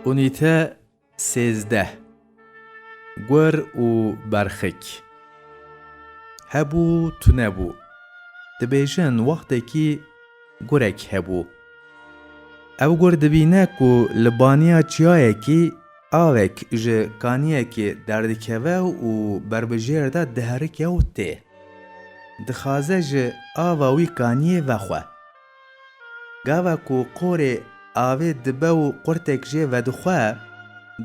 Unîte sêzdeh Gur û berxik Hebû tunebû Dibêjin wextekî gurek hebû. Ev gur dibîne ku li baniya çiyayekî avek ji kaniyekê derdikeve û berbijêr de diherike û tê. Dixaze ji ava wî kaniyê vexwe. Gava ku qorê avê dibe û qurtek jê vedixwe,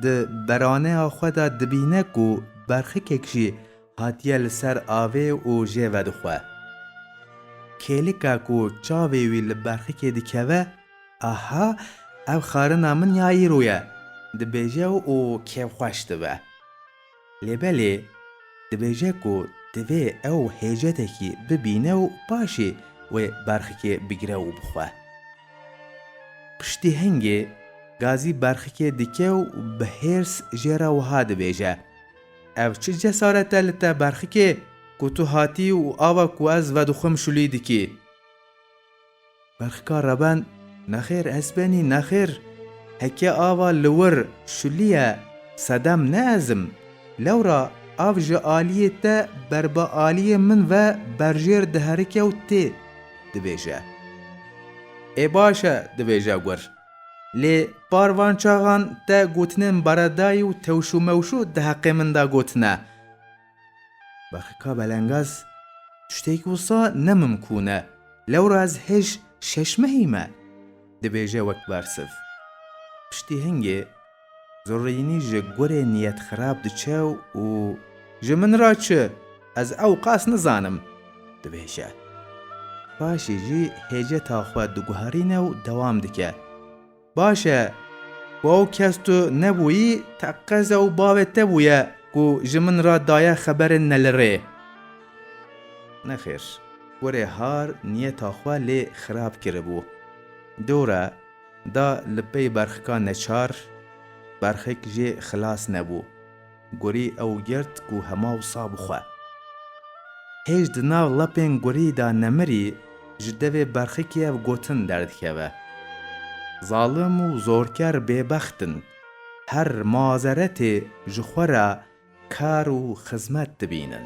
di beraneya xwe de dibîne ku berxikek jî hatiye li ser avê û jê vedixwe. Kêlika ku çavê wî li berxikê dikeve, Aha, ev xarina min ya îro ye! dibêje û kêfxweş dibe. Lê belê dibêje ku divê ew hêcetekî bibîne û paşê wê berxikê bigire û bixwe. Piştî hingê Gazî berxikê dike û bi hêrs jê re wiha dibêje, Ev çi cesaret e li te berxikê ku tu hatî û ava ku ez vedixwim şulî dikî? Berxka rebend, Nexêr ezbenî nexêr, heke ava li wir şulîye sedem ne ez im. Lewra av ji alîyê te ber bi alîyê min ve berjêr diherike û tê dibêje. Ê baş e dibêje gur. Lê par van çaxan te gotinên baredayî û tewşûmewşû di heqê min de gotine. Berxika Belengaz, Tiştêk wisa nemimkûn e. Lewra ez hêj şeş mehî me, dibêje wek bersiv. Piştî hingê, Zurînî ji gurê niyet xirab diçe û Ji min re çi, ez ew qas nizanim, dibêje. Paşê jî hêjeta xwe diguherîne û dewam dike. Baş e, ku ew kes tu nebûyî teqez ew bavê te bûye ku ji min re daye xeberên nelirê. Nexêr, kurê Har niyeta xwe lê xirab kiribû. Dewre da li pey berxika neçar, berxik jê xilas nebû. Gorî ew girt ku hema wisa bi xwe. Hêj di nav lapên gorî de nemirî, ji devê berxikî ev gotin derdikeve, Zalim û zorker bêbext in, her mazeretê ji xwe re kar û xizmet dibînin.